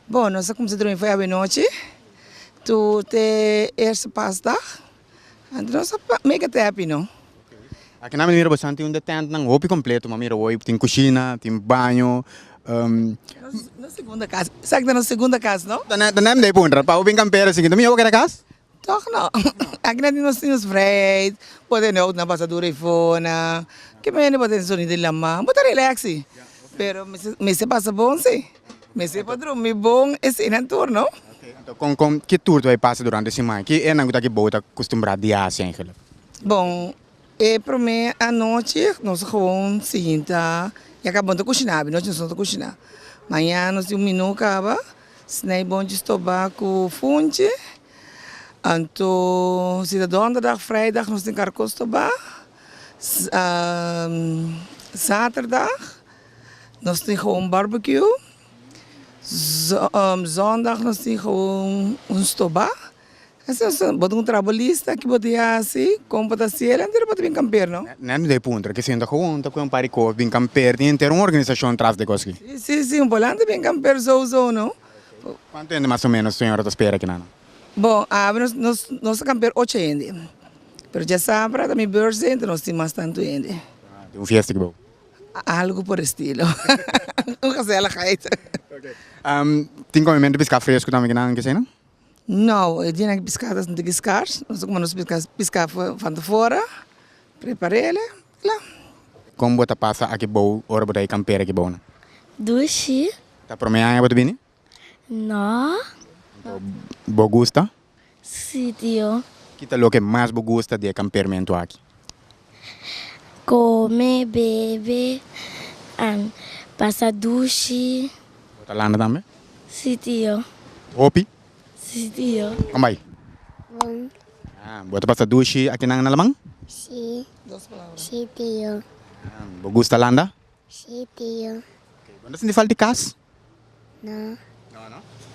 Bon nos a kumsa drumi foi awe nochi to te eerste pasdag anto nos a make it happy no. Aki na mi mira bo santi un de tent nan hopi completo ma mira woi tin cushina tin baño. Nos segunda cas, esaki ta nos segunda cas no. Ta nem de puntra pa hopi campero si tin mi hopi keda cas? Tòg nò, aki nan tin nos tin nos vrijheid, bo tene oud nan pasa dura ei fona, ki mene bo tene sonido di lama, bo ta relaxi, pero mester pasa bon si, mester por drumi bon eseinan tur no. Kon kon, ki tur ta bai pasa durante siman, ki e nan ku ta aki bo ta akustumbrá di hasi? Bon, E promé anochi nos ta gewoon sinta ya kaba bo ta kushiná abi nochi nos no ta kushiná mañana nos tin un minú kaba snei bonchi stobá ku funchi anto si ta donderdag freidag nos tin karko stobá saterdag nos tin gewoon barbekiu zondag nos tin gewoon un stobá. Bo ta un trabalista ki bo ta yasi kon pa ta sera enter bo ta bin kamper no? Nan mi dai puntra ke sento gewoon ta kue un pari kos bin kamper tin enter un organisashon tras de kos aki. Si si si un polan ta bin kamper sou sou no. Kuantu hende mas o menos señora ta spera kinan? Bo awe nos nos ta kamper ocho hende pero djasabra ta mi birthday enton nos tin mas tantu hende. Tin un fiesta ki bo? Algu por estilo un gezelligheid. Tin komimentu piska fresku tambe kinan kesei no? No e dia nan ke piská ta sinti ki skars no sa kuma nos piská piská fanta fora preparele la. Kon bo ta pasa aki bou ora bo ta e kampera ki bounan? Dushi. Ta prome aña bo ta bini? No. Bo gusta? Si tio. Ki ta loke mas bo gusta di e kampermentu aki? Kome, bebe, an pasa dushi. Bo ta landa tambe? Si tio. Hopi? Si tio. Kon bai? Bon. Ah, bo ta pasa dushi aki nan na laman? Si. Dos palabra. Si tio. Ah, bo gusta landa? Si tio. Bo no ta sinti falta di kas? No. No no.